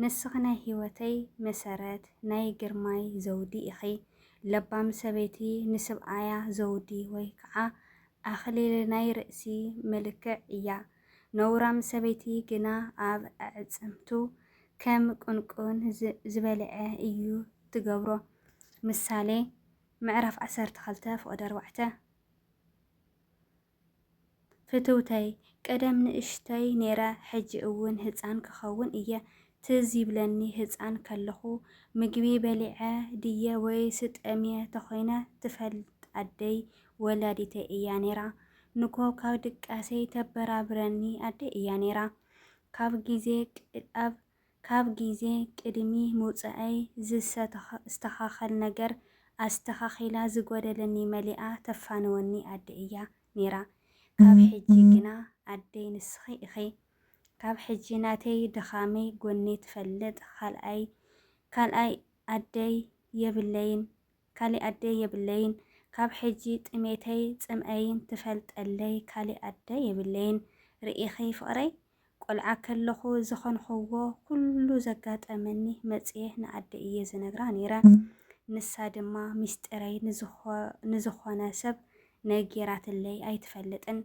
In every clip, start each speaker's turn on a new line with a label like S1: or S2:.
S1: ንስኺ ናይ ሂወተይ መሰረት ናይ ግርማይ ዘውዲ ኢኺ ለባም ሰበይቲ ንስብኣያ ዘውዲ ወይ ከዓ ኣኽሊል ናይ ርእሲ ምልክዕ እያ ነውራም ሰበይቲ ግና ኣብ ኣዕፅምቱ ከም ቁንቁን ዝበልዐ እዩ ትገብሮ ምሳሌ ምዕራፍ ዓሰርተ ክልተ ፍቅዲ ኣርባዕተ። ፍትውተይ ቀደም ንእሽቶይ ኔረ ሕጂ እውን ህጻን ክኸውን እየ ትዝ ይብለኒ ህጻን ከለኹ ምግቢ በሊዐ ድየ ወይስ ጠምየ ተኾይነ ትፈልጥ ኣደይ ወላዲተይ እያ ኔራ ንኮ ካብ ድቃሰይ ተበራብረኒ ኣደይ እያ ኔራ ካብ ግዜ ኣብ ካብ ግዜ ቅድሚ ምውጸኣይ ዝሰተኻኸል ነገር ኣስተኻኺላ ዝጎደለኒ መሊኣ ተፋንወኒ ኣደ እያ ኔራ ካብ ሕጂ ግና ኣደይ ንስኺ ኢኺ ካብ ሕጂ ናተይ ድኻመይ ጎነይ ትፈልጥ ኻልኣይ ካልኣይ ኣደይ የብለይን ካሊእ ኣደ የብለይን ካብ ሕጂ ጥሜተይ ጽምኣይን ትፈልጠለይ ካሊእ ኣደ የብለይን ርኢኺ ፍቕረይ ቆልዓ ከለኹ ዝኸንኹዎ ኩሉ ዘጋጠመኒ መጽየ ንኣደይ እየ ዝነግራ ነይረ። ንሳ ድማ ሚስጢረይ ንዝኾነ ሰብ ነጊራትለይ ኣይትፈልጥን።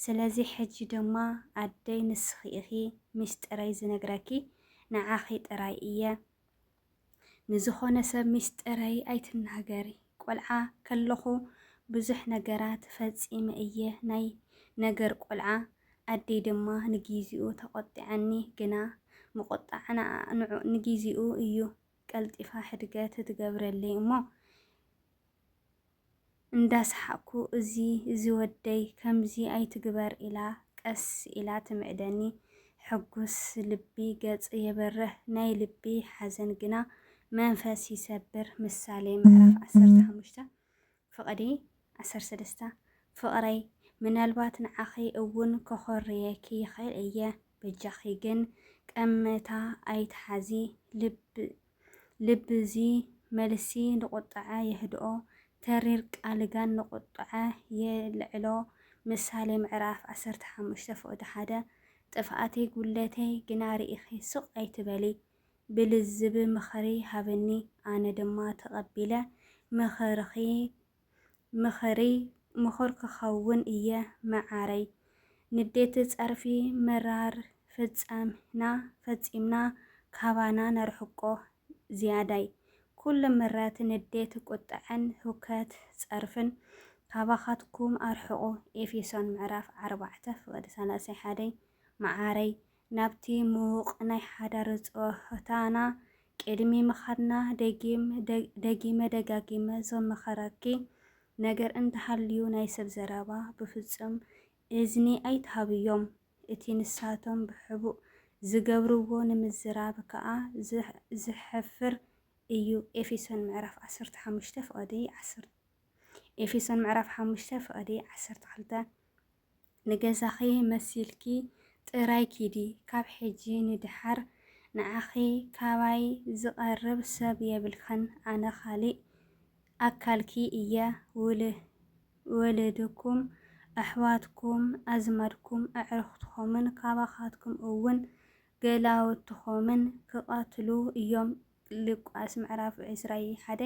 S1: ስለዚ ሕጂ ድማ ኣደይ ንስኺ ኢኺ ሚስጢረይ ዝነግረኪ ንዓኺ ጥራይ እየ። ንዝኾነ ሰብ ሚስጥረይ ኣይትናገሪ ቆልዓ ከለኹ ብዙሕ ነገራት ፈጺመ እየ ናይ ነገር ቆልዓ ኣደይ ድማ ንጊዚኡ ተቆጢዐኒ ግና ምቁጣዕ ንጊዚኡ እዩ ቀልጢፋ ሕድገት ትገብረለይ እሞ እንዳሰሓቕኩ እዚ እዚ ወደይ ከምዚ ኣይትግበር ኢላ ቀስ ኢላ ትምዕደኒ። ሕጉስ ልቢ ገጽ የብርህ ናይ ልቢ ሓዘን ግና መንፈስ ይሰብር ምሳሌ ምዕራፍ ዓሰርተ ሓሙሽተ ፍቕዲ ዓሰርተ ሰለስተ ፍቕረይ ምናልባት ንዓኺ እውን ከኾርየኪ ይኽእል እየ በጃኺ ግን ቀመታ ኣይትሓዚ ልብ ልቢ እዚ መልሲ ንቁጥዐ የህድኦ፣ ተሪር ቃል ጋን ንቁጥዐ የልዕሎ፣ ምሳሌ ምዕራፍ ዓሰርተ ሓሙሽተ ፍቕዲ ሓደ፣ ጥፍኣተይ ጉድለተይ ግና ርኢኺ ስቕ ኣይትበሊ፣ ብልዝብ ምኽሪ ሃብኒ ኣነ ድማ ተቐቢለ ምኽርኺ ምኽሪ ምኹር ክኸውን እየ መዓረይ። ንዴት ፀርፊ ምራር ፍፀምና ፈፂምና ካባና ነርሕቆ ዝያዳይ። ኩሉ ምረት ንዴት ቁጠዐን ሁከት ፀርፍን ካባኻትኩም ኣርሕቁ ኤፌሶን ምዕራፍ ዓርባዕተ ፍቅዲ ሰላሳይ ሓደይ። መዓረይ ናብቲ ምዉቕ ናይ ሓዳር ጸወታና ቅድሚ ምኻድና ደጊም ደጊመ ደጋጊመ ዝምኸረኪ ነገር እንተሃልዩ ናይ ሰብ ዘረባ ብፍጹም እዝኒ ኣይትሃብዮም። እቲ ንሳቶም ብሕቡእ ዝገብርዎ ንምዝራብ ከኣ ዘሕፍር እዩ ኤፌሶን ምዕራፍ ዓሰርተ ሓሙሽተ ፍቕዲ ዓሰርተ ኤፌሶን ምዕራፍ ሓሙሽተ ፍቕዲ ዓሰርተ ክልተ። ንገዛኺ መሲልኪ ጥራይ ኪዲ ካብ ሕጂ ንድሓር ንዓኺ ካባይ ዝቀርብ ሰብ የብልክን ኣነ ካሊእ ኣካልኪ እየ ወልድኩም ኣሕዋትኩም ኣዝማድኩም ኣዕርኽትኹምን ካባኻትኩም እውን ገላውትኹምን ክቀትሉ እዮም ሉቃስ ምዕራፍ ዕስራይ ሓደ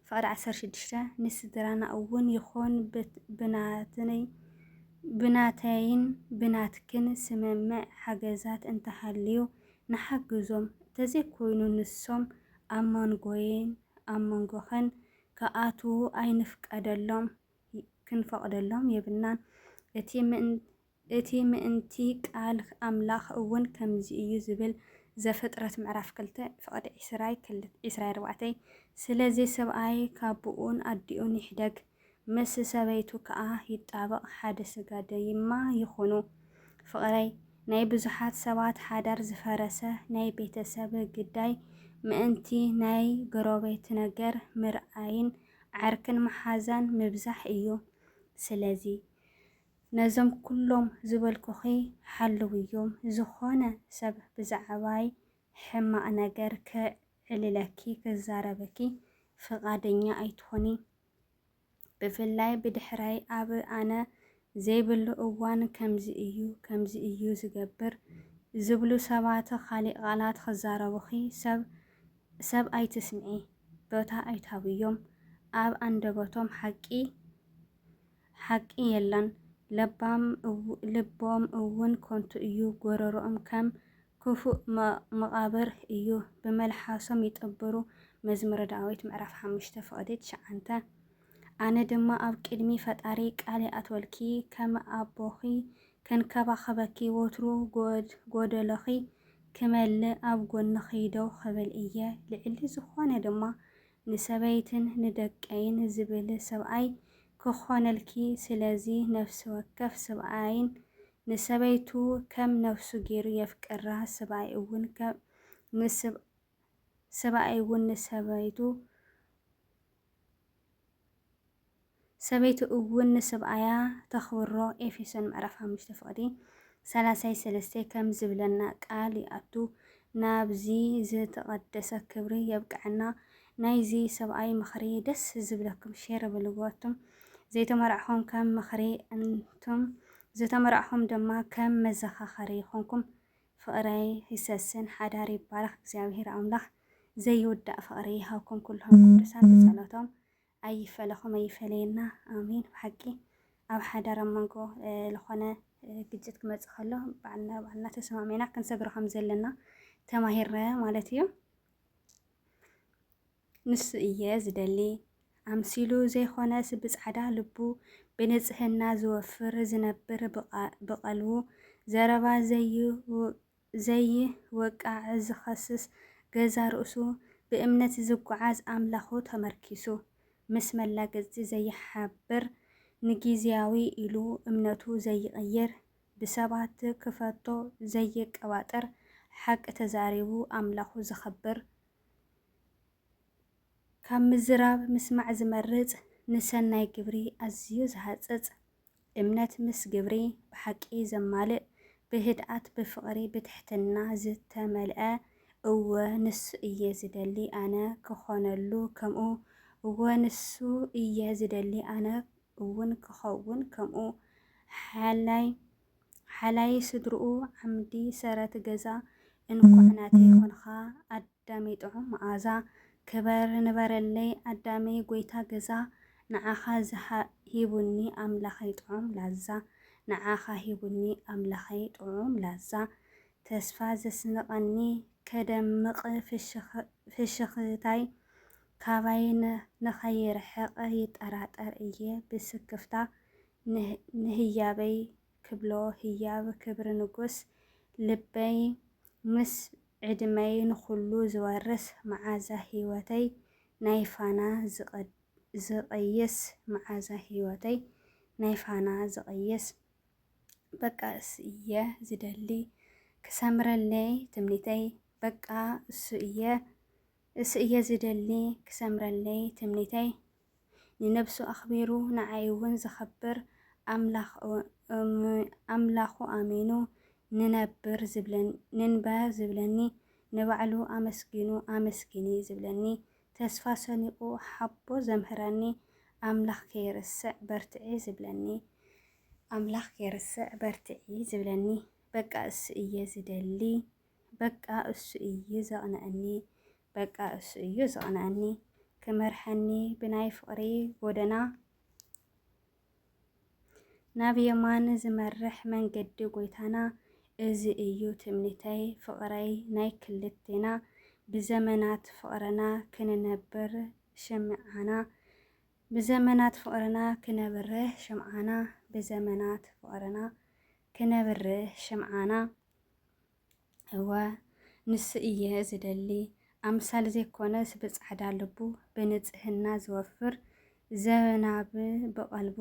S1: ፍቅዲ ዓሰርተ ሽዱሽተ ንስድራና እውን ይኹን ብናትይ ብናተይን ብናትክን ስምምዕ ሓገዛት እንተሃልዩ ንሓግዞም ተዘይኮይኑ ንሶም ኣብ መንጎይን ኣብ መንጎኽን ክኣትዉ ኣይንፍቀደሎም ክንፈቅደሎም የብልናን እቲ እቲ ምእንቲ ቃል ኣምላኽ እውን ከምዚ እዩ ዝብል፣ ዘፍጥረት ምዕራፍ ክልተ ፍቕዲ ዕስራይ ክል ዕስራይ ኣርባዕተይ፣ ስለዚ ሰብኣይ ካቡኡን ኣዲኡን ይሕደግ፣ ምስ ሰበይቱ ከኣ ይጣበቕ፣ ሓደ ስጋ ደይማ ይኹኑ። ፍቕረይ፣ ናይ ብዙሓት ሰባት ሓዳር ዝፈረሰ ናይ ቤተሰብ ግዳይ ምእንቲ ናይ ገሮቤት ነገር ምርኣይን ዓርክን መሓዛን ምብዛሕ እዩ። ስለዚ። ነዞም ኩሎም ዝበልኩኺ ሓልውዮም፣ ዝኾነ ሰብ ብዛዕባይ ሕማቕ ነገር ከዕልለኪ፣ ክዛረበኪ ፍቓደኛ ኣይትኹኒ። ብፍላይ ብድሕረይ ኣብ ኣነ ዘይብሉ እዋን ከምዚ እዩ ከምዚ እዩ ዝገብር ዝብሉ ሰባት ኻሊእ ቓላት ክዛረቡኺ ሰብ ሰብ ኣይትስምዒ፣ ቦታ ኣይትሃብዮም፣ ኣብ ኣንደበቶም ሓቂ ሓቂ የለን ለባም ልቦም እውን ኮንቱ እዩ ጎረሮኦም ከም ክፉእ መቓብር እዩ ብመልሓሶም ይጥብሩ መዝሙረ ዳዊት ምዕራፍ ሓሙሽተ ፍቕዲ ትሽዓንተ ኣነ ድማ ኣብ ቅድሚ ፈጣሪ ቃል ይኣትወልኪ ከም ኣቦኺ ክንከባኸበኪ ወትሩ ጎደሎኺ ክመልእ ኣብ ጎንኺ ደው ክብል እየ ልዕሊ ዝኾነ ድማ ንሰበይትን ንደቀይን ዝብል ሰብኣይ ክኾነልኪ ስለዚ ነፍሲ ወከፍ ስብኣይን ንሰበይቱ ከም ነፍሱ ጌሩ የፍቅራ ስብኣይ እውን ከም ንስብ ስብኣይ እውን ንሰበይቱ ሰበይቱ እውን ንስብኣያ ተኽብሮ ኤፌሶን ምዕራፍ ሓሙሽተ ፍቕዲ ሰላሳይ ሰለስተ ከም ዝብለና ቃል ይኣቱ ናብዚ ዝትቐደሰ ክብሪ የብቀዐና ናይዚ ሰብኣይ ምኽሪ ደስ ዝብለኩም ሼር በልዎ ኣቱም ዘይተመራዕኹም ከም ምኽሪ ኣንቱም ዝተመራዕኹም ድማ ከም መዘኻኸሪ ይኹንኩም ፍቕረይ ይሰስን ሓዳር ይባረኽ እግዚኣብሄር ኣምላኽ ዘይውዳእ ፍቕሪ ይሃብኩም ኩልኹም ቅዱሳን ብጸሎቶም ኣይፈለኹም ኣይፈለየና ኣሜን ብሓቂ ኣብ ሓዳር ኣብ መንጎ ዝኾነ ግጭት ክመፅእ ከሎ ባዕልና ባዕልና ተሰማሚዕና ክንሰግሮ ከም ዘለና ተማሂረ ማለት እዩ ንሱ እየ ዝደሊ ኣምሲሉ ዘይኾነስ ብፃዕዳ ልቡ ብንፅህና ዝወፍር ዝነብር ብቐልቡ ዘረባ ዘይውቅ ዘይወቃዕ ዝኸስስ ገዛ ርእሱ ብእምነት ዝጉዓዝ ኣምላኹ ተመርኪሱ ምስ መላገጽቲ ዘይሓብር ንጊዝያዊ ኢሉ እምነቱ ዘይቕይር ብሰባት ክፈቶ ዘይቀባጥር ሓቂ ተዛሪቡ ኣምላኹ ዘኽብር ካብ ምዝራብ ምስማዕ ዝመርጽ ንሰናይ ግብሪ ኣዝዩ ዝሃጽጽ እምነት ምስ ግብሪ ብሓቂ ዘማልእ፣ ብህድኣት ብፍቕሪ ብትሕትና ዝተመልኣ፣ እወ ንሱ እየ ዝደሊ ኣነ ክኾነሉ ከምኡ፣ እወ ንሱ እየ ዝደሊ ኣነ እውን ክኸውን ከምኡ፣ ሓላይ ሓላይ ስድርኡ ዓምዲ ሰረት ገዛ፣ እንኳዕ ናተይ ኾንኻ ኣደ። ኣዳመይ ጥዑም መኣዛ ክበር ንበረለይ ኣዳመይ ጎይታ ገዛ ንዓኻ ሂቡኒ ኣምላኸይ ጥዑም ላዛ ንዓኻ ሂቡኒ ኣምላኸይ ጥዑም ላዛ ተስፋ ዘስንቐኒ ከደምቕ ፍሽኽታይ ካባይ ንኸይርሕቕ ይጠራጠር እየ ብስክፍታ ንህያበይ ክብሎ ህያብ ክብሪ ንጉስ ልበይ ምስ ዕድመይ ንኹሉ ዝወርስ መዓዛ ህይወተይ ናይ ፋና ዝቐይስ መዓዛ ህይወተይ ናይ ፋና ዝቐይስ በቃ እሱ እየ ዝደሊ ክሰምረለይ ትምኒተይ በቃ እሱ እየ እሱ እየ ዝደሊ ክሰምረለይ ትምኒተይ ንነብሱ ኣኽቢሩ ንዓይ እውን ዘኸብር ኣምላኹ ኣሚኑ ንነብር ንንበር ዝብለኒ ንባዕሉ ኣመስጊኑ ኣመስግኒ ዝብለኒ ተስፋ ሰኒቑ ሓቦ ዘምህረኒ ኣምላኽ ከይርስዕ በርትዒ ዝብለኒ ኣምላኽ ከይርስዕ በርትዒ ዝብለኒ በቃ እሱ እየ ዝደሊ በቃ እሱ እዩ ዘቕንዐኒ በቃ እሱ እዩ ዘቕንዐኒ ክመርሐኒ ብናይ ፍቕሪ ጎደና ናብ የማን ዝመርሕ መንገዲ ጎይታና እዚ እዩ ትምኒተይ ፍቕረይ ናይ ክልቴና ብዘመናት ፍቕርና ክንነብር ሽምዓና ብዘመናት ፍቕርና ክነብርህ ሽምዓና ብዘመናት ፍቕርና ክነብርህ ሽምዓና እወ ንሱ እየ ዝደሊ ኣምሳል ዘይኮነስ ብጻዕዳ ልቡ ብንጽህና ዝወፍር ዘናብ ብቐልቡ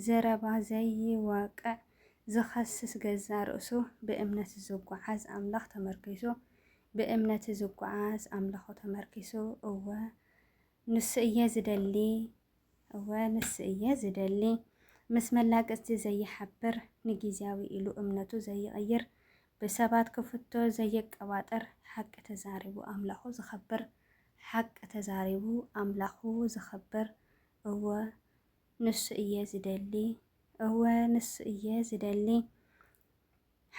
S1: ዘረባ ዘይወቅዕ ዝኸስስ ገዛ ርእሱ ብእምነት ዝጓዓዝ ኣምላኽ ተመርኪሱ ብእምነት ዝጓዓዝ ኣምላኹ ተመርኪሱ እወ ንሱ እየ ዝደሊ እወ ንሱ እየ ዝደሊ ምስ መላገጽቲ ዘይሓብር ንጊዜያዊ ኢሉ እምነቱ ዘይቕይር ብሰባት ክፍቶ ዘየቀባጥር ሓቂ ተዛሪቡ ኣምላኹ ዘኸብር ሓቂ ተዛሪቡ ኣምላኹ ዘኸብር እወ ንሱ እየ ዝደሊ እወ ንሱ እየ ዝደሊ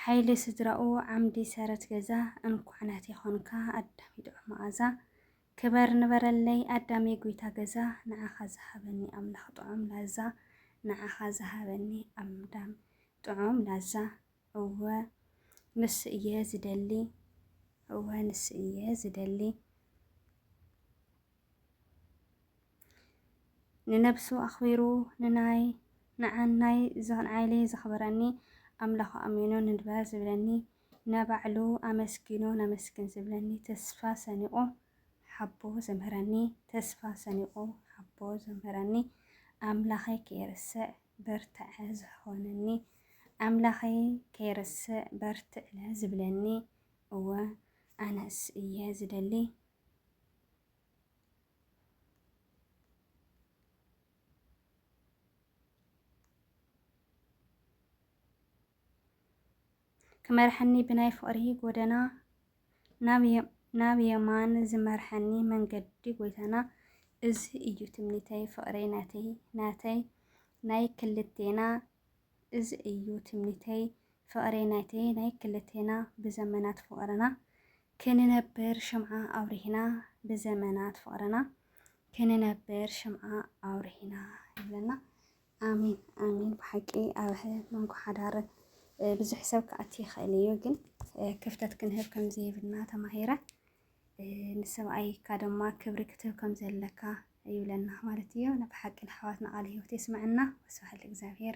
S1: ሓይሊ ስድራኡ ዓምዲ ሰረት ገዛ እንኳዕ ናተይ ኾንካ ኣዳሚ ጥዑም መኣዛ ክበር ንበረለይ ኣዳሜ ጉይታ ገዛ ንዓኻ ዝሃበኒ ኣምላኽ ጥዑም ላዛ ንዓኻ ዝሃበኒ ኣምዳም ጥዑም ላዛ እወ ንሱ እየ ዝደሊ እወ ንሱ እየ ዝደሊ ንነብሱ ኣኽቢሩ ንናይ ንዓናይ ንዓይለይ ዘኽብረኒ ኣምላኹ ኣሚኑ ንድበር ዝብለኒ ናባዕሉ ኣመስጊኑ ነመስግን ዝብለኒ ተስፋ ሰኒቑ ሓቦ ዘምህረኒ ተስፋ ሰኒቑ ሓቦ ዘምህረኒ ኣምላኸይ ከይርስዕ በርትዐ ዝሖነኒ ኣምላኸይ ከይርስዕ በርትዕለ ዝብለኒ እወ ኣነስ እየ ዝደሊ ክመርሐኒ ብናይ ፍቕሪ ጎደና ናብ የማን ዝመርሐኒ መንገዲ ጎይታና እዚ እዩ ትምኒተይ ፍቕረይ ናተይ ናተይ ናይ ክልቴና እዚ እዩ ትምኒተይ ፍቕረይ ናተይ ናይ ክልቴና ብዘመናት ፍቕርና ክንነብር ሽምዓ ኣውሪህና ብዘመናት ፍቕርና ክንነብር ሽምዓ ኣውሪህና ይብለና። ኣሜን ኣሜን ብሓቂ ኣብ መንጎ ሓዳር ብዙሕ ሰብ ክኣቲ ይኽእል እዩ፣ ግን ክፍተት ክንህብ ከም ዘይብልና ተማሂረ ንሰብኣይካ ድማ ክብሪ ክትህብ ከም ዘለካ ይብለና ማለት እዩ። ብሓቂ ንኣሕዋትና ቃል ህይወት የስመዐና። ወስብሓት ለእግዚኣብሔር።